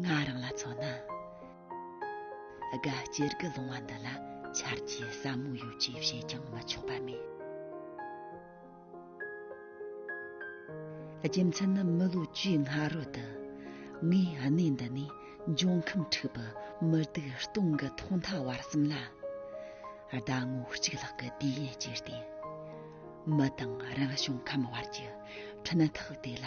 ང་རང་ལ་མཚོན་ན་དགའ་སྐྱེར་གྱི་ལུང་བ་འདི་ལ་འཆར་གྱི་ཟབ་མོ་ཡོད་ཅེས་བཤད་ཀྱང་མི་ཆོག་པ་མེད་རྒྱུ་མཚན་ནི་མི་ལོ་བཅུའི་སྔ་རོལ་དུ་ངས་གནས་འདི་ནས་འབྱུང་ཁམས་འཁྲུག་པའི་མི་སྡུག་སྟོང་གི་ཐོག་མཐའ་བར་གསུམ་ལ་ཟླ་ངོ་གཅིག་ལྷག་གི་དུས་ཡུན་སྤྱད་དེ། མི་དང་རང་བྱུང་ཁམས་བར་གྱི་འཁྲུན་ཐག་དེ་ལ་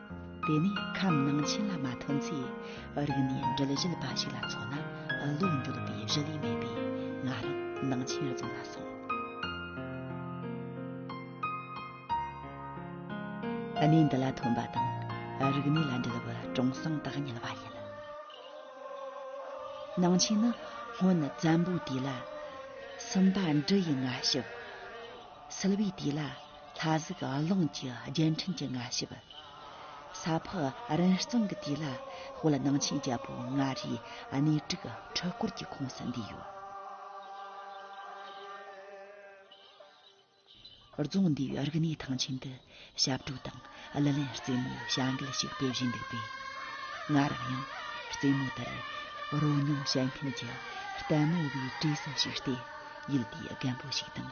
དེ་ནས་ཁམས་ནང་ཆེན་ལ་མ་ཐོན་ཚེ་རིག་ནས་འདྲིལ་བཞིལ་པ་ཞིག་ལ་འཚོ་ན་བློ་འགྱོད་པའི་བཞི་ལས་མེད་པས་ང་རང་ནང་ཆེན་རྫོང་ལ་སོང། གནས་འདི་ལ་ཐོན་པ་དང་རིག་གནས་ལ་འདྲིལ་བའི་གྲོང་སྲང་དག་ཉལ་བ་ཡིན། ནང་ཆེན་ནི་སྔོན་བཙན་པོའི་དུས་ལ། སུམ་པ་འབྲི་ཡི་ལྔ་ཞབས། སིལ་བའི་དུས་ལ། ལྷ་གཟུགས་རླུང་གི་རྒྱན་ཕྲེང་གི་མངའ་ཞབས། ས་ཕག་རིན་གཙང་གི་དུས་ལ་དཔལ་སྣང་ཆེན་རྒྱལ་པོ་མངའ་རིས་གནས་དྲུག་འཕྲུལ་འཁོར་གྱི་ཁོངས་སུ་འདུས་ཡོད། རྫོང་འདུས་པའི་རིག་གནས་ཐང་ཆེན་དུ་ཞབས་བྲོ་དང་གླུ་ལེན་རྩེད་མོའི་བྱ་འགུལ་ཞིག་སྤེལ་བཞིན་འདུག་པས། ང་རང་ཡང་རྩེད་མོ་དེར་རོལ་མྱོང་བྱེད་མཁན་གྱི་ལྟད་མོ་བའི་གྲས་སུ་ཞུགས་ཏེ་ཡུལ་དེའི་རྒན་པོ་ཞིག་དང་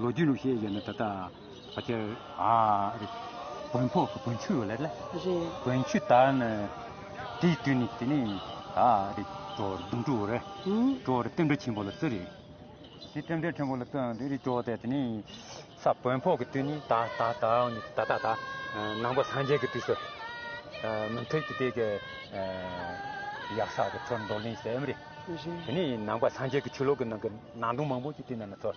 ལོ་རྒྱུས་ལུགས་ཤེས་ཡོད་ན་ད་ལྟ་ཕ་ཁྱེར་ཨ་རེད། བོན་ཕོག་གི་བོན་ཆུ་ཡོད་ལེ། རེད། བོན་ཆུ་ད་ནི་དེའི་དུས་ནས་དེ་ནས་ཨ་རེད། ཀྲོའུ་རེད་དུང་ཀྲོའུ་རེད། ཀྲོའུ་རེད་བསྟན་འགྲོ་ཆེན་པོ་ལ་བརྩི་རེད། དེ་བསྟན་འགྲོ་ཆེན་པོ་ལ་བརྩི་ཨང་དེ་རེད་ཀྲོའུ་དེ་དེ་ནས་ས་བོན་ཕོག་གི་དུས་ནས་ད་ད་ད་ཨང་ནས་ད་ད་ད་ནང་པ་སངས་རྒྱས་ཀྱི་དུས་སུ། མི་མཐུན་གྱི་དེ་གི་ཡག་ས་གི་ཚུར་འདོར་ལེན་བྱས་ཨེ་མི་རེད། དེ་ནས་ནང་པ་སངས་རྒྱས་ཀྱི་ཆོས་ལུགས་ཀྱི་ནང་གི་ནང་དོན་མང་པོ་ཅིག་དེ་ནང་ན་ཚུར།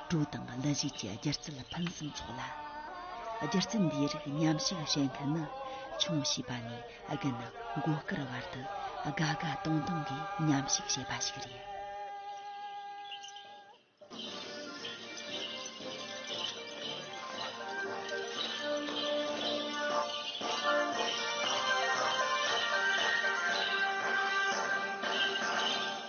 དྲུག་དང་བླ་གཞིས་ཀྱི་སྒྱུ་རྩལ་ཕུན་སུམ་ཚོགས་ལ། སྒྱུ་རྩལ་འདིའི་རིགས་ཉམས་ཞིབ་བྱེད་མཁན་ནི་ཆུང་བྱིས་པ་ནས་རྒན་མགོ་དཀར་བར་དུ་དགའ་དགའ་སྟོང་སྟོང་གིས་ཉམས་ཞིབ་བྱེད་པ་ཞིག་རེད།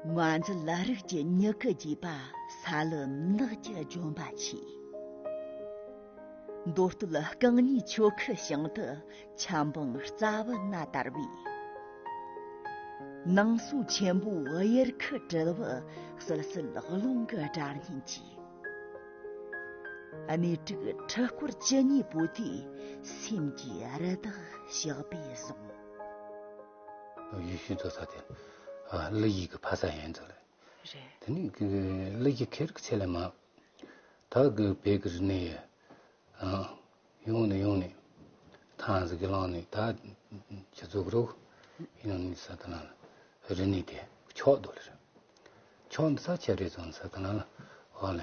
མ་འཛི་ལ་རིགས་ཀྱི་མྱུ་གུ་རྒྱས་པ་ས་ལུ་ནགས་ཀྱི་ལྗོན་པ་ཆེ། མདོ་སྟོད་རྐང་གཉིས་ཆོ་ཁུ་བྱང་དུ་ཆབ་འབངས་རྩ་བུ་སྣ་དར་བའི། ནང་སོ་ཆེན་པོའི་དབྱར་ཁུ་དྲིལ་བུ་བསིལ་བསིལ་རླུང་གི་སྒྲ་སྙན་གྱིས། གནས་དྲུག་ཁྲི་སྐོར་བཅུ་གཉིས་པོ་དེའི་སེམས་ཀྱི་རི་དྭགས་ཞགས་པས་བཟུང། ཡུལ་ཤུལ་དུ་ས་དེ་བླ་ཡིག་གི་ཕ་ས་ཡན་དུ་ལས། རེད། དེ་ནི་བླ་ཡིག་ཁེར་གི་ཆེད་ལས་མ། ད་གི་བལ་གི་རི་ནས་ཡི། ཡོང་ནི་ཡོང་ནི། ཐང་ཟིག་གི་ལང་ནི་ད། ཆུ་ཚོ་གི་རུག། ཡོང་ནི་ས་དེ་ན་ལ། རི་ནི་དེ་ཕྱོགས་དུ་ལས། ཕྱོགས་ནི་ས་ཆེ་རེ་ཚོ་ནི་ས་དེ་ན་ལ། ཧོ་ལས།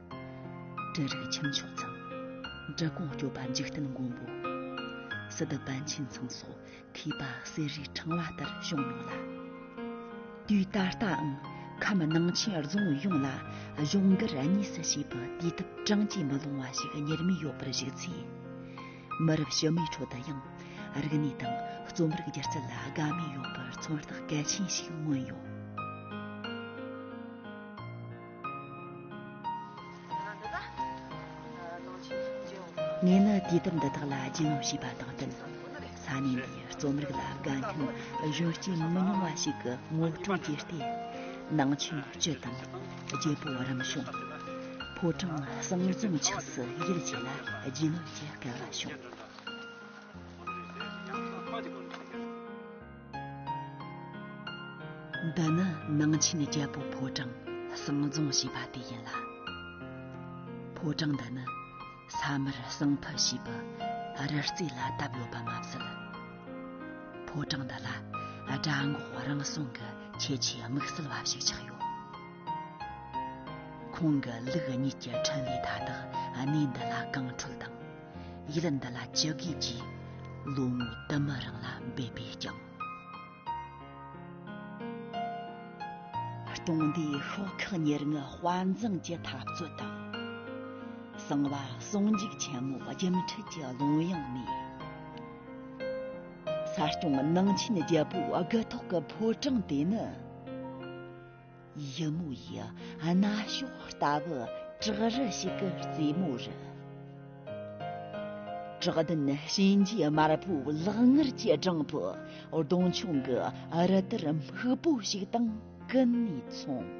དྲིལ་རིག་ཁྱིམ་མཆོག་ཚང། འབྲི་གུང་སྐྱོབ་པ་འཇིག་རྟེན་མགོན་པོ། སི་ཏུ་པཎ་ཆེན་ཚང་སོགས་མཁས་པ་གསེར་རིའི་ཕྲེང་བ་ལྟར་བྱུང་མྱོང་ལ། དུས་ད་ལྟའང་ཁམས་ནང་ཆེན་རྫོང་ཡོངས་ལ་གཞུང་སྒེར་གཉིས་སུ་བྱས་པའི་དུས་དེབ་གྲངས་ཀྱིས་མི་ལོངས་བ་ཞིག་གཉེར་མི་ཡོད་པར་གཞིགས་ཚེ། མི་རབས་ཕྱི་མའི་ཁྲོད་དུ་ཡང་རིག་གནས་དང་རྩོམ་རིག་སྒྱུ་རྩལ་ལ་དགའ་མོས་ཡོད་པར་མཚོན་རྟགས་གལ་ཆེན་ཞིག་མངོན་ཡོད། ངས་ནི་དུས་དེབ་འདི་དག་ལ་རྒྱུས་ལོན་བྱས་པ་དང་བསྟུན་ས་གནས་འདིའི་རྩོམ་རིག་ལ་དགའ་མཁན་གཞོན་སྐྱེས་མི་ཉུང་བ་ཞིག་གི་ངོ་སྤྲོད་བརྒྱུད་དེ་ནང་ཆོས་སྤྱི་དང་རྒྱལ་པོ་རིམ་བྱོན་ཕོ་བྲང་གསང་འཛོམས་ཆགས་སུ་ཡིད་ཆེས་ལ་རྒྱུས་ལོན་གྱི་སྐལ་བ་བྱུང། འདི་ནི་ནང་ཆེན་རྒྱལ་པོ་ཕོ་བྲང་གསང་རྫོང་ཞེས་པ་དེ་ཡིན་ལ། ཕོ་བྲང་འདི་ནི་ས་མར་གསང་ཕུ་ཞེས་པའི་རི་རྩེ་ལ་བཏབ་ཡོད་པ་མ་ཟད། ཕོ་བྲང་འདི་ལ་སྦྲ་འགོག་རང་སྲུང་གི་ཁྱད་ཆོས་དམིགས་བསལ་བ་ཞིག་ཆགས་ཡོད། ཁོང་གི་ལུགས་གཉིས་ཀྱི་འཕྲིན་ལས་མཐའ་དག་གནས་འདི་ལ་རྐང་འཕྲོད་དང། ཡིད་ལ་འདི་ལ་ཅི་དགོས་ཀྱི། ལོ་ངོ་དུ་མ་རང་ལ་འབད་པས་ཀྱང། གྲོང་སྡེའི་ཤོག་ཁག་ཉེར་ལྔའི་དཔའ་མཛངས་ཀྱི་འཐབ་རྩོད་དང། གསང་བ་ཟུང་འཇུག་ཆེན་མོ་རྒྱུན་འཁྲིད་ཀྱི་ལུང་དབྱངས་ནས། གསར་སྐྱོང་ནང་ཆེན་རྒྱལ་པོའི་དགུ་ཐོག་གི་ཕོ་བྲང་དེ་ནི། ཡི་མུག་ཡི་རྣ་ཞོག་ལྟ་བུ་བྲག་རི་ཞིག་གི་རྩེ་མོ་རུ། བྲག་ལྡན་གཤིན་རྗེ་དམར་པོའི་ལག་ངར་གྱི་སྦྲང་བུ་གདོང་མཆོང་གི་རི་དར་སྨུག་པོ་ཞིག་དང་ཀུན་ནས་མཚུངས།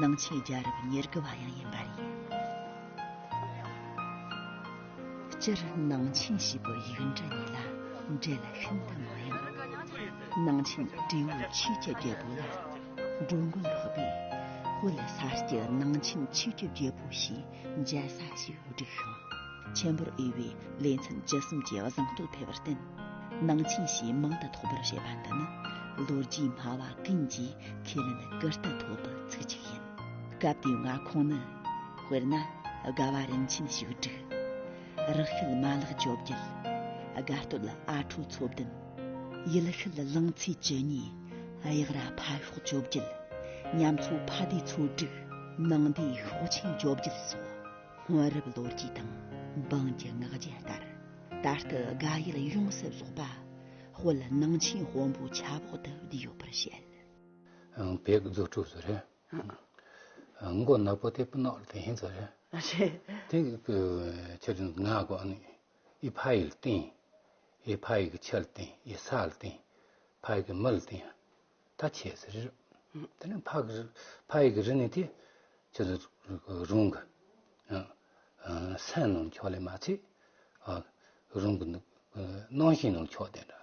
ནང་ཆོས་རྒྱ་རབས་ཉེར་དགུ་བ་ཡང་ཡིན་པ་རེད། སྤྱིར་ནང་ཆེན་ཞེས་པའི་ཡིག་འབྲི་གཉིས་ལ་འབྲེལ་ཤིན་ཏུ་མང་ཡང། ནང་ཆེན་དྲེའུ་ཆོས་ཀྱི་རྒྱལ་པོ་ལ་འགྲོ་མགོན་ལྷོ་པས་དབུས་ལ་ས་སྐྱའི་ནང་ཆེན་ཆོས་ཀྱི་རྒྱལ་པོ་ཞེས་འཇའ་ས་ཆེའི་བུ་ཕྲུག་ཤོག། ཆེན་པོར་དབུལ་བའི་ལས་མཚམས་སྦྱི་གསུམ་གྱི་བཟང་སྟོད་འཕེལ་བར་བསྟན། ནང་ཆེན་ཞེས་མིང་དུ་ཐོགས་པར་བྱས་པ་འདི་ནི་ལོ་རྒྱུས་སྨྲ་བ་ཀུན་གྱིས་ཁས་ལེན་ཀི་རྟ་ཐོག་ཏུ་ཚུད་ཅིག་ཡིན། སྐབས་དེའི་མངའ་ཁོངས་ནི། དཔེར་ན་དགའ་བ་རིན་ཆེན་བྱུག་སྒྲིག། རག་ཤུལ་མ་ལག་བཅོ་བརྒྱད། དགའ་སྟོད་ཨ་ཁྲོ་མཚོ་བདུན། ཡུལ་ཤུལ་གླིང་ཚས་བཅུ་གཉིས། གཡག་རྭ་ཕ་ཤོག་བཅོ་བརྒྱད། ཉམས་ཚོད་ཕ་དུས་ཚོད་དྲུག། ནང་དུས་ཤོག་ཆེན་བཅོ་བརྒྱད་སོགས་སྔོན་རབས་ལོ་རྒྱུས་དང་འབངས་ཀྱི་ངག་རྒྱུན་ལྟར། ད་ལྟ་དགའ་ཡུལ་ཡོངས་སུ་རྫོགས་པ་དཔལ་ནང་ཆེན་དཔོན་པོའི་ཆབ་འོག་ཏུ་བསྡུས་ཡོད་པར་བཤད། བེག་རྫོགས་ཕྲུག་ཚོ་རེད། མགོ་ནག་པོ་སྟེ་སྤུ་ནག་ལ་དེ་ཧིན་ཚོ་རེད། དེ་ཕྱིར་ང་དགོངས་ནས། ཨི་བྷ་ཡི་ལ་བསྟན། ཨི་བྷ་ཡི་གི་ཆ་ལ་བསྟན། ཨི་སཱ་ལ་བསྟན། བྷ་ཡི་གི་མི་ལ་བསྟན། ད་ཆས་སི་རི། དེ་ནས་བྷ་གི་རི། བྷ་ཡི་གི་རི་ནི་དེ། ཆོས་ལ་རུང་གི། སེམས་ནང་མཆོག་ལས་མ་ཚིག། རུང་གི། སྣང་ཞེན་ནང་མཆོག་དེ་འདྲ།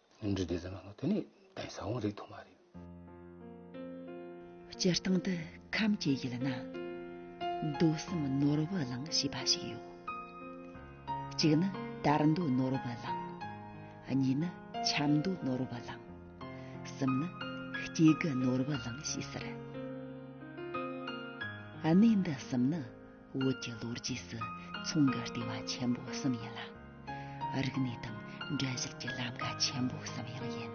སྙིང་རྗེ་འདི་ཙམ་ཡོད་ན་དེ་ནི་གདན་ས་བོན་རིག་དུ་མ་རེད། སྤྱིར་བཏང་དུ་ཁམས་ཀྱི་ཡུལ་ན་མདོ་གསུམ་ནོར་བུ་གླིང་ཞེས་པ་ཞིག་ཡོད། གཅིག་ནི་དར་མདོ་ནོར་བུ་གླིང། གཉིས་ནི་ཆབ་མདོ་ནོར་བུ་གླིང། གསུམ་ནི་སྐྱེ་རྒུ་ནོར་བུ་གླིང་ཞེས་ཟེར། གནས་འདི་གསུམ་ནི། བོད་ཀྱི་ལོ་རྒྱུས་སུ་མཚོ་འགག་ལྟེ་བ་ཆེན་པོ་གསུམ་ཡིན་ལ། རིག་གནས་དང་འགྲན་བཞེད་ཀྱི་ལམ་ཁ་ཆེན་པོ་གསུམ་ཡང་ཡིན།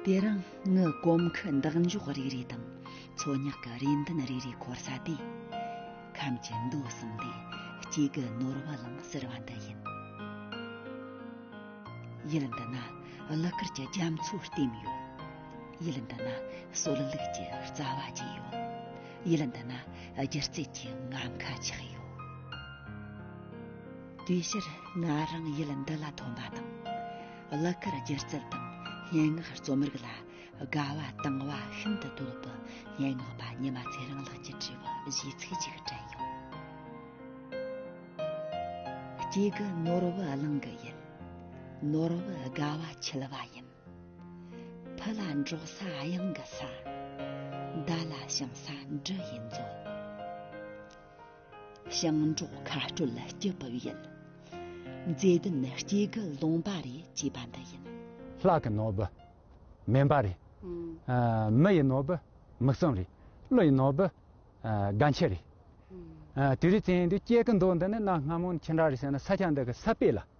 དེ་རིང་ངས་གོམ་ཁ་འདེགས་འཇོག་རིག་རིག་དང་མཚོ་ཉག་གི་རེ་འདུན་རིག་རིག་འཁོར་ས་དེ། ཁམས་ཀྱི་མདོ་གསུམ་ལས་གཅིག་གི་ནོར་བ་ལང་ཟེར་བ་འདི་ཡིན། ཡུལ་འདི་ན་གླུ་གར་གྱི་རྒྱ་མཚོའི་ལྟེམ་ཡོད། ཡུལ་འདི་ན་སྲོལ་ལུགས་ཀྱི་རྩ་བ་བཅས་ཡོད། ཡིད་ལ་འདི་ན་སྒྱུ་རྩལ་གྱི་ངར་མཁའ་ཆགས་ཡོད། དེའི་ཕྱིར་ང་རང་ཡིད་འདི་ལ་ཐོན་པ་དང། གླུ་གར་སྒྱུ་རྩལ་དང་སྙན་ངག་རྩོམ་རིག་ལ་དགའ་བ་དང་བ་ཤིན་ཏུ་དོད་པའི་སྙན་ངག་པ་ཉི་མ་ཚེ་རིང་ལགས་ཀྱི་དྲི་བ་གཞིའི་ཚིག་ཅིག་དྲན་ཡོང། གཅིག་གི་ནོར་བུ་གླིང་གི་ཡུལ། ནོར་བུ་དགའ་བ་འཁྱིལ་བ་ཡིན། བུ་ལ་འགྲོགས་ས་གཡང་གི་ས། མདའ་ལ་བྱང་ས་འབྲུ་ཡི་མཛོད། ཞིང་འབྲོག་མཁའ་སྤྲོད་སྐྱི་བུག་ཡིན། མཛེས་ལྡན་སྐྱེ་རྒུ་ལུང་པ་རེ་ཅེས་པ་འདི་ཡིན། ལྷ་གི་ནོར་བུ་སྨན་པ་རེ། མི་ཡི་ནོར་བུ་མིག་གསུམ་རེ། ཀླུ་ཡི་ནོར་བུ་སྒ་འཁྱིལ་རེ། དེ་རིང་ཚེ་ཡི་འདི་སྐྱེ་རྒུ་མདོ་འདི་ནི་གནའ་སྔ་མོ་ནས་ཁྱི་འདྲ་རེ་བྱས་ན་ས་ཆ་འདི་གི་ས་དཔེ་ལ།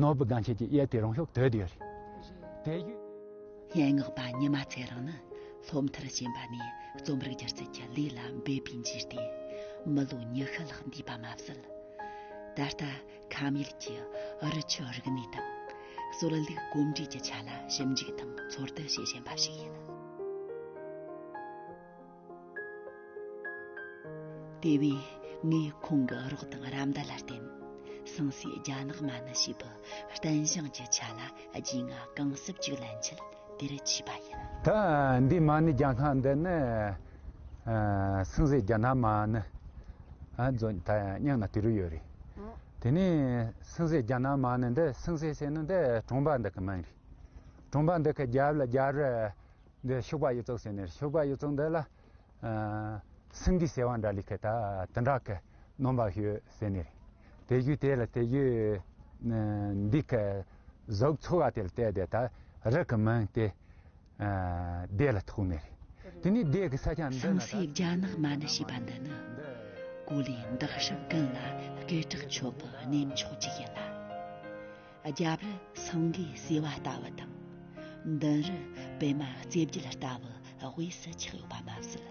ནོར་བུ་སྒང་ཁྱེད་ཀྱི་གཡས་དེ་རང་ཤོག་དོད་ཡོད་རེད་དེ། སྙན་ངག་པ་ཉི་མ་ཚེ་རིང་ནི་སློབ་མཐར་ཕྱིན་པ་ནས་རྩོམ་རིག་སྒྱུ་རྩལ་གྱི་ལས་ལ་འབད་པའི་མཇུག་ཏུ་མི་ལོ་ཉི་ཤུ་ལྷག་འདས་པ་མ་ཟད། ད་ལྟ་ཁམས་ཡུལ་གྱི་རི་ཆུ་རིག་གནས་དང། སྲོལ་རྒྱུན་གོམས་འདྲིས་ཀྱི་ཆ་ལ་ཞིབ་འཇུག་དང་ཚོར་སྡུད་བྱེད་བཞིན་པ་ཞིག་ཡིན། དེ་བས་ངས་ཁོང་གི་རོགས་དང་ར་མདའ་ལ་བརྟེན་ཟངས་སའི་རྒྱ་ནག་མ་ནི་ཞེས་པའི་བརྟན་བཞེངས་ཀྱི་ཆ་ལ་རྒྱུས་མངའ་གང་གསབ་ཅིག་ལེན་ཆེད་དེར་མཆིས་པ་ཡིན། ད་འདི་མ་ནི་རྒྱ་ནག་འདི་ནི་ཟངས་སའི་རྒྱ་ནག་མ་ནི་རྫོགས་ད་སྙམ་ན་དེ་རུ་ཡོད་རེད། དེ་ནས་ཟངས་སའི་རྒྱ་ནག་མ་ནི་འདི་ཟངས་སའི་ཟེར་ན་འདི་གྲོང་པ་འདི་གི་མིང་རེད། གྲོང་པ་འདི་གི་རྒྱབ་ལ་རྒྱབ་རི། འདིར་ཤུག་པ་གཡུ་བཙོག་ཟེར་ནས་ཤུག་པ་གཡུ་བཙོག་འདི་ལ་སིང་གེ་ཟེར་བ་འདྲ་ལི་ཁེ་ད་དུ་འདྲ་གི་སྣོམ་པ་ཞོས་ཟེར་ནས་དེ་བཞུས་དེ་ལ་དེ་བཞུས་འདི་གི་གཟུགས་འཚོ་བ་དེ་ལ་བལྟས་དེ་ད་རི་གི་མིང་དེ་སྡེ་ལ་ཐུག་ནས་དེ་ནས་སྡེ་གི་ས་ཆ་འདི་ན་ད་སངས་རྒྱ་ནག་མ་ནི་ཞེས་པ་འདི་ནི་གོ་ལའི་འདག་ཧྲག་ཀན་ལ་སྐད་གྲགས་ཆོད་པའི་གནས་མཆོག་ཅིག་ཡིན་ལ། རྒྱབ་རི་སངས་རྒྱས་བསིལ་བ་ལྟ་བུ་དང། མདུན་རི་པད་མ་རྩེ་བརྒྱད་ལྟ་བུ་དབུས་སུ་ཆགས་ཡོད་པ་མ་ཟད།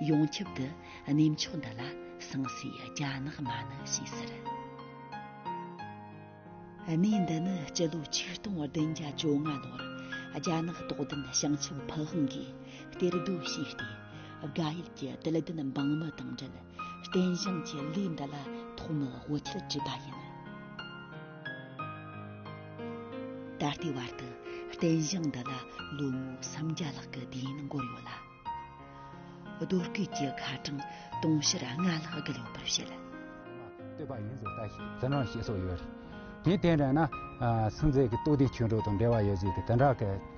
ཡོངས་ཁྱབ་ཏུ་གནས་མཆོག་འདི་ལ་སངས་སའི་རྒྱ་ནག་མ་ནི་ཞེས་ཟེར། གནས་འདི་ནི་སྤྱི་ལོ་ཆིག་སྟོང་བདུན་བརྒྱ་བཅོ་ལྔ་ལོར་རྒྱ་ནག་དོག་ལྡན་བྱང་ཆུབ་ཕུན་དབང་གིས་གཏེར་སྡོད་བྱས་ཏེ་དགའ་ཡུལ་གྱི་དད་ལྡན་འབངས་མི་དང་འབྲེལ་རྟེན་བཞེངས་ཀྱི་ལས་འདི་ལ་ཐོག་མར་དབུ་འཁྱིལ་བྲིས་པ་ཡིན། ད་ལྟའི་བར་དུ་རྟེན་བཞེངས་འདི་ལ་ལོ་ངོ་སུམ་བརྒྱ་ལྷག་གི་དུས་ཡུན་འགོར་ཡོད་ལ། རྡོ་སྐུད་ཀྱི་ཁ་གྲངས་དུང་ཕྱུར་ལྔ་ལྷག་བརྒལ་ཡོད་པར་བཤད། བསྟོད་པ་ཡིན་ཟེར་ལྟ་ཞིག་ཟེར་རང་ཞེས་སོགས་ཡོད། དེའི་སྟེང་རན་ན། སངས་རྒྱས་ཀྱི་སྟོད་དུས་ཆོས་འབྲོག་དང་འབྲེལ་བ་ཡོད་ཟེར་གྱི་དེ་འདྲ་སྐད།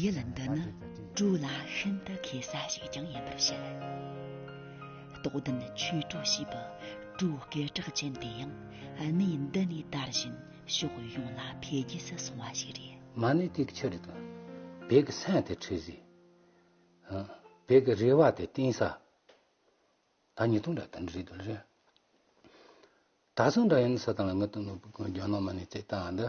ཡིད་ལ་འདི་ནི་གྲུ་ལ་ཤིན་ཏུ་མཁས་ས་ཞིག་ཀྱང་ཡིན་པར་བཤད། རྟོགས་ལྡན་ཆོས་གྲུ་ཞེས་པའི་གྲུའི་སྐད་གྲགས་ཅན་དེ་ཡང་གནས་འདི་ནས་དར་བཞིན་ཕྱོགས་ཡོངས་ལ་འཕེལ་རྒྱས་སུ་སོང་བ་ཞིག་རེད། མ་ཎི་ཏིག་ཕྱི་རུ་དང། བད་ཀྱི་སྲན་དེ་ཁྲི་བཟི། བད་ཀྱི་རེ་བ་དེ་གཏིང་ཟ། ད་ཉིས་སྟོང་དང་དོན་དྲུག་རེད། ད་སོང་འདྲ་ཡིན་སུ་དང་ལ་ངི་དང་ནོར་བུ་དགོན་རྒྱ་ནག་མ་ཎི་ཏིག་དང་འདི།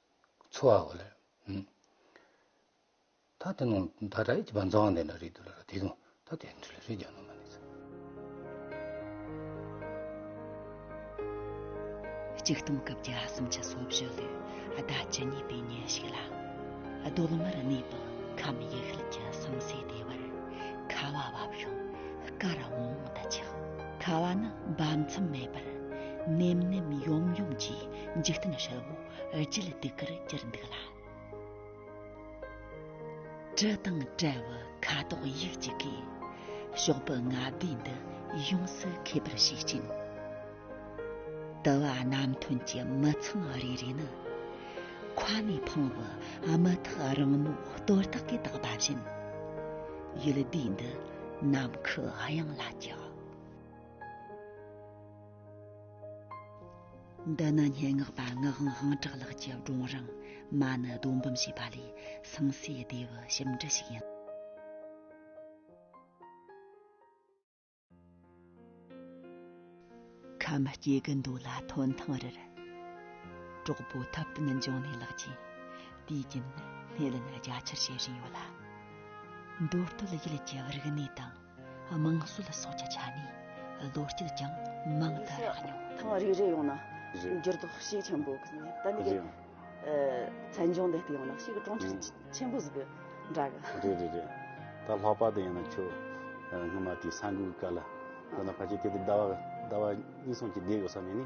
འཚོ་བ་ལ། ད་དེ་ནང་ད་ད་ཡིག་པ་འཛང་དེ་ན་རེད་དུ་ལ་ར་དེ་དུང་ད་དེ་འདྲི་ལ་རེད་རྒྱ་ནང་མ་ནས་ཚ། གཅིག་སྟོང་སྐབས་བརྒྱ་གསུམ་ཆ་སོ་བཞི་ལུས་ཟླ་བཅུ་གཉིས་པའི་ཉིན་ཞིག་ལ། གདོད་མར་གནས་པའི་ཁམས་ཡུལ་ཤུལ་གྱི་ཟང་ཟིང་ལྟེ་བར་ཁ་བ་བབས་ཤིང་སྐ་ར་འོང་འོང་དུ་ཆགས། ཁ་བ་ནི་འབབ་མཚམས་མེད་པར་ནེམ་ནེམ་ཡོམ་ཡོམ་གྱིས་འཇིག་རྟེན་ཧྲིལ་བོ་བརྗིད་སྡུག་གིར་གྱུར་འདུག་ལ། དྲི་དང་བྲལ་བའི་ཁ་དོག་ཡིག་གཅིག་གིས། ཤོག་བུ་ལྔ་བསྡུས་འདི་ཡོངས་སུ་ཁེབས་པར་ཤུགས་བསྐྱེད། དུ་བ་རྣམ་ཐོན་གྱི་མི་མཚུངས་རེ་རེ་ནི། ཁ་ནས་འཕང་བའི་དམུ་ཐག་རིང་མོ་གཏོར་བརྟག་གིས་བཏགས་པ་བཞིན། ཡུལ་སྡེ་འདི་ནམ་མཁའི་དབྱིངས་ལ་བསྐྱལ། འདི་ནི་སྙན་ངག་པ་ངག་དབང་ཧང་གྲགས་ལགས་ཀྱི་སྒྲུང་རིང་མ་ནི་རྡོ་འབུམ་ཞེས་པ་ལས་ཟངས་སེ་སྡེ་བའི་ཞིབ་འབྲི་ཞིག་ཡིན། ཁམས་སྐྱེ་དགུ་འདུ་ལ་ཐོན་ཐང་རེར། གྲོགས་པོ་ཐབས་བསྟུན་འབྱུང་གནས་ལགས་ཀྱིས་དུས་རྒྱུན་སྣེ་ལེན་རྒྱ་ཆེར་བྱེད་བཞིན་ཡོད་ལ། མདོ་སྟོད་ཡུལ་གྱི་རིག་གནས་དང། དམངས་སྲོལ་ལ་སོགས་ཀྱི་ཆ་ནས་བློ་སྐྱེད་ཀྱང་མང་དུ་རག་མྱོང། ཐེངས་རེ་རེ་ཡོང་ན་འགྱུར་ལྡོག་ཤུགས་ཆེན་པོ་གི་ནས་ད་ནི་གི་མཚན་ལྗོངས་འདི་ལྟ་ཡོང་ན་ཤིག་གི་གྲོང་ཁྱེར་ཆེན་པོ་ཟིག་གི་འདྲ་གི། རེད་རེད་རེད་ད་ལྷག་པར་དུ་ཡང་ན་ཁྱོད་སྔོན་མ་དེའི་ས་འགུལ་གི་སྐབས་ལ་ཡང་ན་ཕལ་ཆེར་དེ་ལྟར་ཟླ་བ་ཟླ་བ་གཉིས་གསུམ་གྱི་བསྡད་ཡོད་ས་ནས་ནི།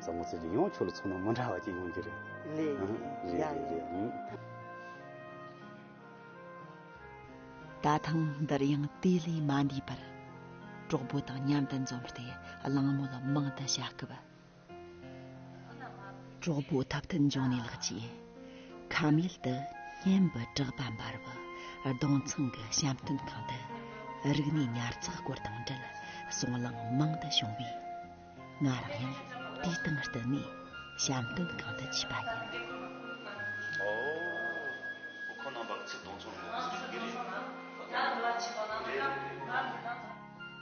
བཟང་མོ་ཚོས་ཀྱི་ཡོང་ཁྱོད་ལ་མཚོན་ན་མི་འདྲ་བ་ཅིག་ཡོང་རྒྱུ་རེད། ལེ། ཡང་ཡིན། ད་ཐེངས་འདིར་ཡང་དེ་ལས་མ་འདས་པར། གྲོགས་པོ་དང་མཉམ་དུ་འཛོམས་ཏེ་གླེང་མོལ་མང་དུ་བྱ་སྐབས། གྲོགས་པོ་ཐབས་མཐུན་འབྱུང་གནས་ལགས་ཀྱིས། ཁམས་ཡུལ་དུ་སྙན་པའི་གྲགས་པ་འབར་བའི་སྡོང་ཚང་གི་བཤམས་སྟོན་ཁང་དུ་རིག་གནས་ཉར་ཚགས་སྐོར་དང་འབྲེལ་གསུང་གླེང་མང་དུ་བྱུང་བས། ང་རང་ཡང་དེའི་སྟེང་བསྟུན་ནས་བྱམས་སྟོན་གང་དུ་བྱས་པ་ཡིན།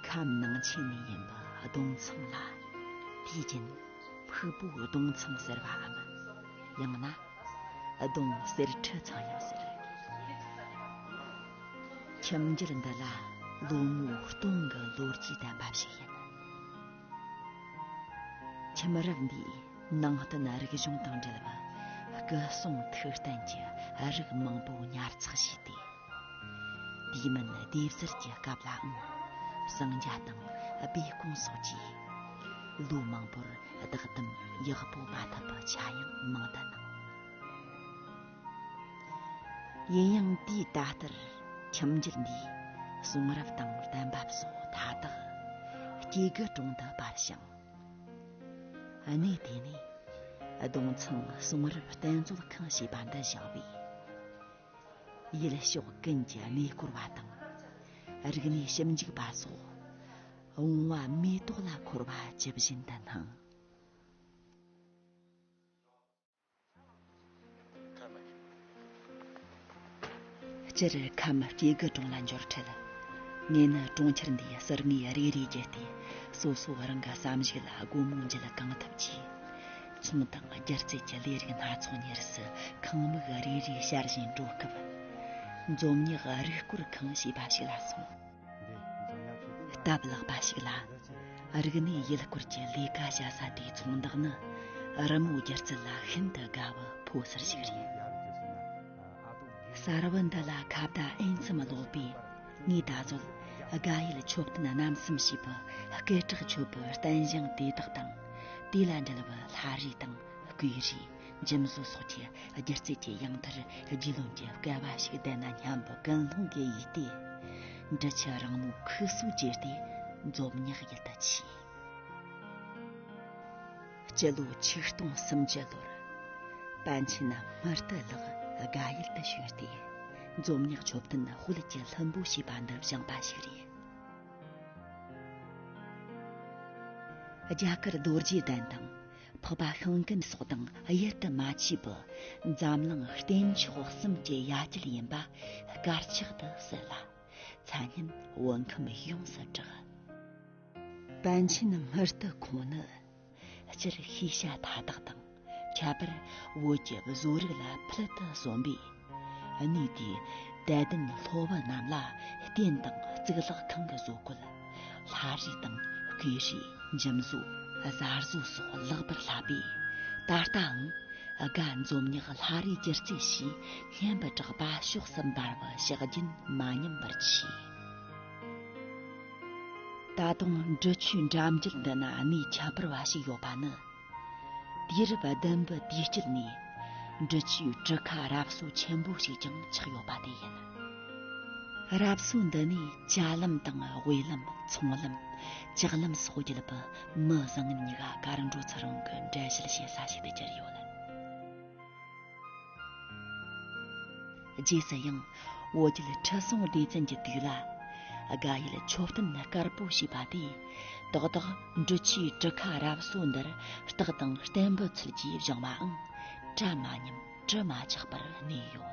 ཁམས་ནང་ཆེན་ནས་ཡིན་པ་གདུང་འཚང་ལ། དེའི་རྒྱུན་ཕུག་པོ་གདུང་འཚང་ཟེར་བའམ། ཡང་ན། གདུང་གསེར་ཁྲི་ཚང་ཡང་ཟེར། ཁྱིམ་རྒྱུད་འདི་ལ་ལོ་ངོ་སྟོང་གི་ལོ་རྒྱུས་ལྡན་པ་ཞིག་ཡིན། ཁྱིམ་མི་རབས་འདིས་ནང་བསྟན་རིག་གཞུང་དང་འབྲེལ་བ་སྐུ་གསུང་ཐུགས་རྟེན་གྱི་རིགས་མང་པོ་ཉར་ཚགས་བྱས་ཏེ། དུས་མིན་ལྡེབས་གསར་གྱི་སྐབས་ལའང་གསང་རྒྱ་དང་སྦས་སྐུང་སོགས་ཀྱིས་ལོ་མང་པོར་བདག་དམ་ཡག་པོ་མ་ཐུབ་པ་ཆ་ཡང་མང་དུ་གནང། ཡིན་ཡང་དུས་ད་ལྟར་ཁྱིམ་རྒྱུད་འདིའི་གསུང་རབ་དང་གཏམ་བབས་སོགས་མཐའ་དག་སྐྱེ་རྒུའི་དྲུང་དུ་པར་བྱུང། གནས་དེ་ནས་ལྡོང་ཚང་གསུང་རབ་བསྟན་རྩོད་ཁང་ཞེས་པ་འདི་བཞག་པས། ཡུལ་ཕྱོགས་ཀུན་གྱི་གནས་སྐོར་བ་དང་རིག་གནས་ཞིབ་འཇུག་པ་སོགས་འོང་བ་མེ་ཏོག་ལ་འཁོར་བ་ཇི་བཞིན་དུ་སྣང། སྤྱིར་ཁམས་སྐྱེ་རྒུ་གྲོང་ལ་འབྱོར་འཕྲལ། ངེད་ནི་གྲོང་ཁྱེར་འདིའི་གསེར་དངུལ་རེ་རེ་བརྒྱུད་དེ་སོ་སོ་རང་གི་བསམ་གཞིག་ལ་སྒོ་མོ་འབྱེད་གང་ཐུབ་ཀྱིས། ཚོང་དང་སྒྱུ་རྩལ་གྱི་ལས་རིགས་སྣ་ཚོགས་གཉེར་སྲི་ཁང་དམིགས་རེ་རེ་ཤར་བཞིན་འགྲོ་སྐབས། འཛོམས་ཉག་རུས་སྐོར་ཁང་ཞེས་པ་ཞིག་ལ་སོང། སྟབས་ལེགས་པ་ཞིག་ལ་རིག་གནས་ཡུལ་སྐོར་གྱི་ལས་ཀ་བྱ་ས་དེའི་ཚོང་བདག་ནི་རི་མོ་བསྒྱུར་ཚུལ་ལ་ཤིན་ཏུ་དགའ་བའི་ཕོ་གསར་ཞིག་རེད། གསར་བུ་འདི་ལ་ཁ་བརྡ་ཨེན་ཙམ་ཀློག་པས་ངས་ད་གཟོད་དགའ་ཡུལ་མཆོད་རྟེན་རྣམ་གསུམ་ཞེས་པའི་སྐད་གྲགས་ཆོད་པོའི་རྟེན་བཞེངས་དེ་དག་དང་དེ་ལ་འབྲེལ་བའི་ལྷ་རིས་དང་བསྐོས་རིས། འཇིམ་བཟོ་སོགས་ཀྱི་སྒྱུ་རྩལ་གྱི་དབྱངས་མཐར་རྒྱུས་ལོན་གྱི་སྐལ་བ་ཞིག་ལྡན་ན་སྙམ་པའི་ཀུན་སློང་གིས་ཡིད་བདེ། འབྲི་ཆུའི་རང་མོས་ཁུལ་སུག་བརྗེས་ཏེ་མཛོ་མྱག་ཡུལ་དུ་ཕྱིན། སྤྱི་ལོ་ཆིག་སྟོང་སུམ་ཅུ་ལོར་པཎ་ཆེན་སྨར་དུ་ལགས་དགའ་ཡུལ་དུ་བྱོན་ཏེ་མཛོ་མྱག་མཆོད་རྟེན་དཔལ་གྱི་ལྷུན་པོ་ཞེས་པ་འདི་བཞེངས་པ་ཞིག་རེད། རྒྱ་གར་རྡོ་རྗེ་གདན་དང། འཕགས་པ་ཤིང་སྐམ་སོགས་དང་དབྱེར་དུ་མ་མཆིས་པ་འཛམ་གླིང་གཏན་ཆགས་གསུམ་གྱི་ཡ་གྱལ་ཡིན་པ་དཀར་ཆག་ཏུ་གསལ་ལ། མཚན་སྙན་བོད་ཁམས་ཡོངས་སུ་གྲགས། པཎ་ཆེན་སྨར་རྟུལ་ཁོང་ནི། སྤྱིར་ཤེས་བྱ་མཐའ་དག་དང་ཁྱད་པར་བོད་ཀྱི་བཟོ་རིག་ལ་ཕུལ་དུ་བཟོ་འབའ། གནས་དེའི་དད་ལྡན་སློབ་བུ་རྣམས་ལ་རྟེན་དང་གཙུག་ལག་ཁང་གི་བཟོ་བཀོད། ལྷ་རིས་དང་བརྐོས་རིས་འཇིམ་བཟོ་གཟར་བཟོ་སོགས་ལེགས་པར་བསླབས་པས་ད་ལྟའང་དགའ་འཛོམས་ཉག་ལྷ་རིས་སྒྱུ་རྩལ་ཞེས་སྙན་པའི་གྲགས་པ་ཕྱོགས་སུ་འབར་བ་ཕྱག་རྒྱུན་མ་ཉམས་པར་མཆིས། ད་དུང་འབྲི་ཆུའི་འགྲམ་རྒྱུད་འདི་ན་གནས་ཁྱད་པར་བ་ཞིག་ཡོད་པ་ནི། དུས་རབས་བདུན་པའི་དུས་དཀྱིལ་ནས་འབྲི་ཆུའི་གྲུ་ཁ་རབ་གསོ་ཆེན་པོ་ཞིག་ཀྱང་ཆགས་ཡོད་པ་དེ་ཡིན། རབ་གསོ་འདི་ནས་ལྕགས་ལམ་དང་དབུས་ལམ་ཚོང་ལམ་ལྕགས་ལམ་སོགས་བརྒྱུད་པའི་མི་བཟང་ཉི་ག་གར་འགྲོ་ཚུར་འོང་གི་འགྲེལ་བཤད་བྱེད་ས་ཞིག་ཏུ་གྱུར་ཡོད། རྗེས་སུ་ཡང་འོ་སྐྱིད་ཁྲི་སྲོང་ལྡེ་བཙན་གྱི་དུས་ལ་དགའ་ཡུལ་མཆོད་རྟེན་དཀར་པོ་ཞེས་པ་དེ་ཏག་ཏག་འབྲི་ཆུའི་གྲུ་ཁ་རབ་གསོ་འདིར་རྟགས་དང་གཏན་འབུལ་ཚུལ་གྱིས་བཞེངས་པའང་བཀྲ་མ་ཉམས་དྲི་མ་ཆགས་པར་གནས་ཡོད།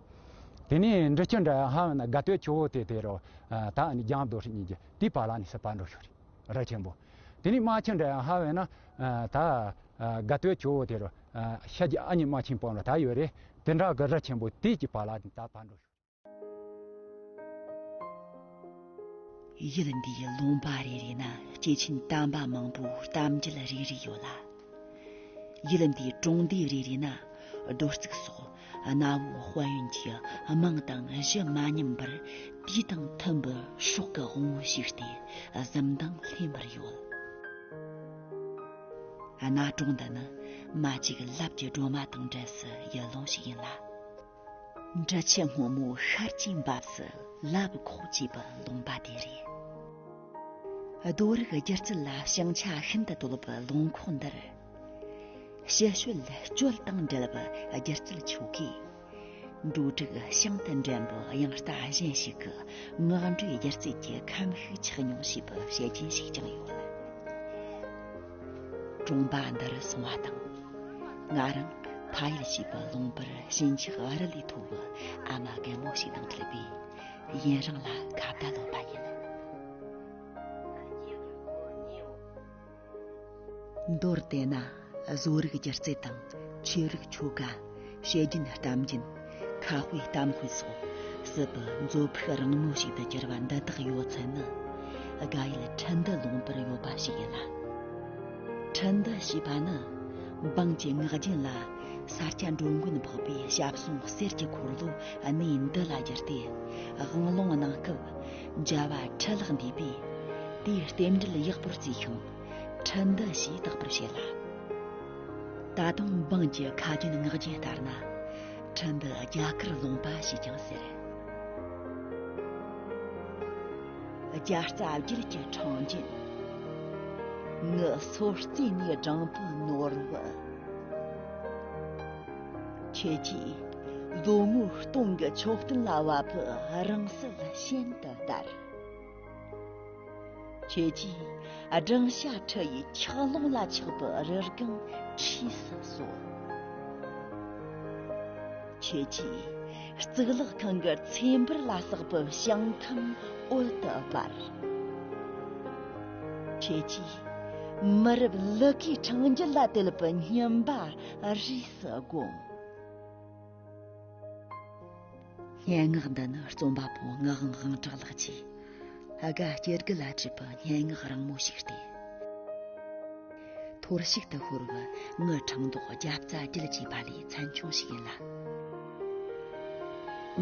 དེ་ནས་འབྲི་ཆུ་འདྲ་ཧ་ཧ་ན་དགའ་སྟོད་ཆུ་བོ་དེ་དེ་རུ་ད་ནི་རྒྱང་རྡོ་ཧྲི་གཉིས་ཀྱི་དེའི་བར་ལ་ནི་སྲིད་པ་འགྲོ་ཤོག་རི་ཆེན་པོ་དེ་ནི་རྨ་ཆུ་འདྲ་ཧ་ཧ་ན་ད་དགའ་སྟོད་ཆུ་བོ་དེ་རུ་ཤ་རྒྱ་ཨ་མྱེས་རྨ་ཆེན་པོ་ན་ད་ཡོད་རེད་དེ་འདྲ་གི་རི་ཆེན་པོ་དེའི་གྱི་བར་ལ་ནི་ད་བར་འགྲོ་ཤོག། ཡུལ་འདིའི་ལུང་པ་རེ་རེ་ན་སྐྱེས་ཆེན་དམ་པ་མང་པོའི་གཏམ་རྒྱུད་རེ་རེ་ཡོད་ལ། ཡུལ་འདིའི་གྲོང་སྡེ་རེ་རེ་ན་རྡོ་བརྩིགས་སོགས་གནའ་བོའི་དཔལ་ཡོན་གྱི་དམངས་དང་གཞི་མ་ཉམས་པར་དུས་དང་མཐུན་པའི་ཤོག་གི་དབང་བོ་ཞིག་སྟེ་གཟིམ་མདངས་ལྷན་པར་ཡོད། གནའ་གྲོང་འདི་ནི་མ་ཅིག་ལབ་ཀྱི་སྒྲོལ་མ་དང་འབྲེལ་སྲིད་ཡུལ་ལུང་ཞིག་ཡིན་ལ། འདྲ་ཆེ་སྔོན་མོ་ཤར་གྱི་འབབ་སུ་ལབ་ཁོག་ཅེས་པ་ལུང་པ་དེ་རེད། རྡོ་རིགས་སྒྱུ་རྩལ་ལ་ཞེང་ཆ་ཤིན་ཏུ་དོད་པའི་ལུང་ཁོག་འདིར། ཞི་ཞོལ་སྤྱོད་དང་འབྲེལ་བའི་སྒྱུ་རྩལ་ཆོ་གའི་འབྲུ་དྲུག་ཤིན་ཏུ་འགྲན་པའི་དབྱངས་རྟ་གཞན་ཞིག་གི་ངག་འགྲོས་སྒྱུ་རྩལ་གྱི་ཁམས་ཤིག་ཆགས་མྱོང་ཞེས་པའི་བཤད་རྒྱུན་ཞིག་ཀྱང་ཡོད། གྲོང་པ་འདིར་སོང་བ་དང་ང་རང་ཕ་ཡུལ་ཞེས་པ་ལུང་པར་ཞིང་ཆགས་ཨ་རི་ལས་མཐོ་བུ་ཨ་མ་རྒན་མོ་ཞིག་དང་འཕྲད་པས་ཡུན་རིང་ལ་ཁ་བརྡ་སློག་པ་ཡིན། མདོར་དེད་ན་བཟོ་རིག་སྒྱུ་རྩལ་དང་ཆོས་རིག་ཆོ་ག། བཤད་རྒྱུན་གཏམ་རྒྱུན་ཁ་དཔེ་གཏམ་དཔེ་སོགས་སྲིད་པའི་མཛོད་ཕུགས་རིང་མོ་ཞིག་ཏུ་གྱུར་པ་འདི་དག་ཡོད་ཚད་ནི་དགའ་ཡུལ་ཁྲི་འདི་ལོངས་པར་ཡོད་པ་ཞིག་ཡིན་ལ། ཁྲི་འདི་ཞེས་པ་ནི་འབངས་ཀྱི་ངག་རྒྱུན་ལ་ས་སྐྱ་འགྲོ་མགོན་ཕོག་པའི་ཞབས་ཟུང་གསེར་གྱི་འཁོར་ལོ་གནས་འདི་ལ་གྱུར་ཏེ་དབང་ལུང་གནང་སྐབས་རྒྱལ་བ་ཁྲི་ལག་འདུས་པས་དེའི་རྟེན་འབྲེལ་ཡག་པོར་བརྩིས་ཤིང། ཁྲི་འདི་ཞེས་བཏགས་པར་བྱས་ལ། ད་དུང་འབངས་ཀྱི་ཁ་རྒྱུན་ངག་རྒྱུན་ལྟར་ན་ཁྲི་འདི་རྒྱ་གར་ལུང་པ་ཞེས་ཀྱང་ཟེར། རྒྱ་རྩ་བརྒྱུད་ཀྱི་འཕྲང་རྒྱུན། ངུ་སོ་རྩེ་ནས་སྦྲང་བུ་ནོར་བུ། ཁྱེད་ཀྱིས་ལོ་ངོ་སྟོང་གི་མཆོག་སྟོན་ལ་བབ་བུ་རང་སྲིད་ཤིན་ཏུ་དར། ཁྱོད་ཀྱིས་སྦྲང་ཤ་ཁྲི་ཡི་འཁྱགས་ཀླུང་ལ་ཆགས་པའི་རི་སྒང་འཁྲིས་སུ་གསོལ། ཁྱོད་ཀྱིས་གཙུག་ལག་ཁང་གི་ཚེ་འབུར་ལ་བསགས་པའི་བྱང་ཐང་འོད་དུ་འབར། ཁྱོད་ཀྱིས་མི་རབས་ལི་ཁའི་འཕྲེང་རྒྱུད་ལ་དད་པའི་སྙིམ་པ་རིས་སུ་བསྒོམ། སྙན་ངག་འདི་ནི་རྩོམ་པ་པོ་ངག་དབང་དབང་གྲགས་ལགས་ཀྱིས་ཨ་དགའ་སྐྱེ་རྒུ་ལ་བྲིས་པའི་སྙན་ངག་རིང་མོ་ཞིག་སྟེ། ཐོར་ཞིག་ཏུ་ཤོར་བའི་ངའི་འཕྲང་མདོག་རྒྱབ་རྩ་བརྒྱུད་ཅེས་པ་ལས་ཚན་ཆུང་ཞིག་ཡིན་ལ།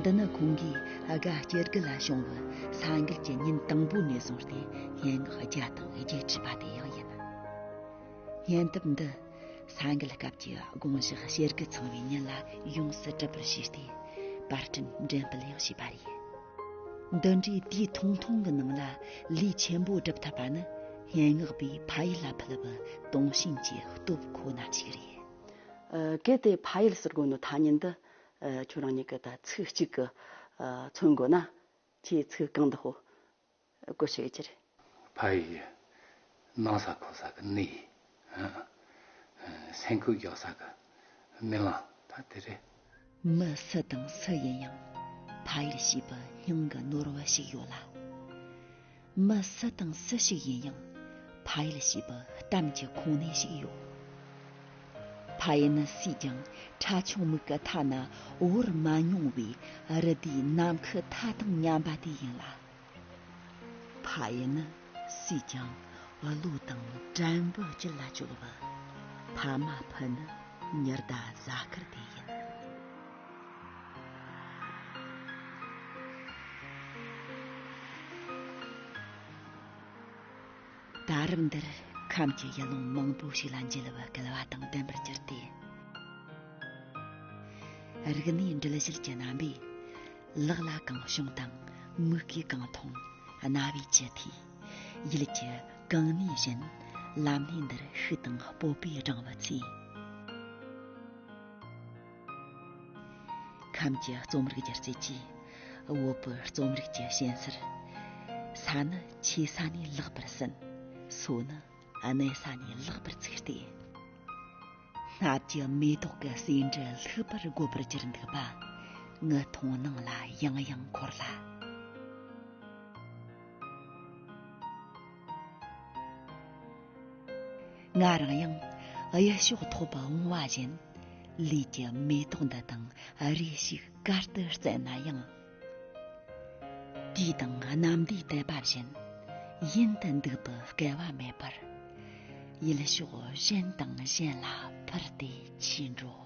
འདི་ནི་ཁོང་གིས་ཨ་དགའ་སྐྱེ་རྒུ་ལ་བྱུང་བའི་ས་འགུལ་གྱི་ཉིན་དང་པོ་ནས་བཟུང་སྟེ་སྙན་ངག་བརྒྱ་དང་བརྒྱད་བྲིས་པ་དེ་ཡང་ཡིན། སྙན་དེབ་འདི། ས་འགུལ་སྐབས་ཀྱི་དགོངས་བཞག་བྱེད་སྒོ་ཚང་བའི་ཉིན་ལ་ཡོངས་སུ་གྲུབ་པར་བྱས་ཏེ་པར་སྐྲུན་འགྲེམ་སྤེལ་ཡང་བྱས་པ་རེད། འདི་འདྲའི་དུས་ཐུང་ཐུང་གི་ནང་ལ་ལས་ཆེན་པོ་བསྒྲུབ་ཐུབ་པ་ནི་སྙན་ངག་པའི་ཕ་ཡུལ་ལ་ཕུལ་བའི་དུངས་ཞེན་གྱི་སྟོབས་ཁོ་ན་གཅིག་རེད། གལ་ཏེ་ཕ་ཡུལ་ཟེར་དགོས་ན་ཐ་སྙད་འདི་ཁྱོད་རང་གཉིས་ཀྱི་ཚིག་གཅིག་གིས་མཚོན་དགོས་ན་ཁྱེད་ཚིག་རྐང་འདི་ཧོ། བཀོད་ཤེས་ཀྱི་རེད། ཕ་ཡིས་ནང་ས་ཁོག་ས་གི་ནི་ཡིས། སེང་ཁུ་རྒྱག་ས་གི་རྨི་ལང་ད་དེ་རེད། མི་སུ་དང་སུ་ཡིན་ཡང་ཕ་ཡུལ་ཞེས་པའི་སྙིང་གི་ནོར་བུ་ཞིག་ཡོད་ལ། མི་སུ་དང་སུ་ཞིག་ཡིན་ཡང་ཕ་ཡུལ་ཞེས་པའི་གཏམ་གྱི་ཁུངས་སྣེ་ཞིག་ཡོད། ཕ་ཡུལ་ནི་སུས་ཀྱང་ཁྲ་ཆུང་མིག་གི་མཐའ་ན་དབོར་མ་མྱོང་བའི་རི་དེའི་ནམ་མཁའི་མཐའ་དང་མཉམ་པ་དེ་ཡིན་ལ། ཕ་ཡི་ནི་སུས་ཀྱང་བློ་དང་དྲན་པོ་ཅི་ལ་བཅོལ་བ། ཕ་མ་ཕུད་ནི་ཉི་ཟླ་གཟའ་སྐར་དེ་ཡིན། ད་རེབ་འདིར་ཁམས་ཀྱི་ཡུལ་ལུང་མང་པོ་ཞིག་ལ་མཇལ་བར་སྐལ་བ་དང་ལྡན་པར་གྱུར་ཏེ། རིག་གནས་འགྲེལ་བཤད་ཀྱི་རྣམ་པས་ལག་ལ་གང་བྱུང་དང་མིག་གིས་གང་མཐོང་རྣ་བས་ཅི་ཐོས་ཡུལ་གྱི་གང་གནས་བཞིན་ལམ་སྣེ་འདིར་ཤུལ་དང་སྤོབས་པས་བགྲང་བ་ཚེ། ཁམས་ཀྱི་རྩོམ་རིག་སྒྱུ་རྩལ་གྱིས་དབུལ་པོའི་རྩོམ་རིག་གྱི་ཞེན་སར། ས་ནི་ཆེ་ས་ནས་ལེགས་པར་ཟིན། སོ་ནི་གནས་ས་ནས་ལེགས་པར་ཚུགས་ཏེ། སྔགས་ཀྱི་མེ་ཏོག་གི་ཟེའུ་འབྲུ་ལྷུག་པར་དགོད་པར་གྱུར་འདུག་པ་ངི་མཐོང་སྣང་ལ་ཡང་ཡང་འཁོར་ལ། ང་རང་ཡང་གཡས་ཕྱོགས་ཐོག་པ་འོང་བ་བཞིན་ལུས་ཀྱི་མེ་ཏོག་འདི་དང་རེ་ཞིག་གར་དུ་བརྩད་ན་ཡང། དུས་དང་རྣམ་པའི་དད་པ་བཞིན་ཡུན་དུ་འདུག་པའི་སྐལ་བ་མེད་པར་ཡུལ་ཕྱོགས་གཞན་དང་གཞན་ལ་འཕུར་ཏེ་ཕྱིན་འགྲོ།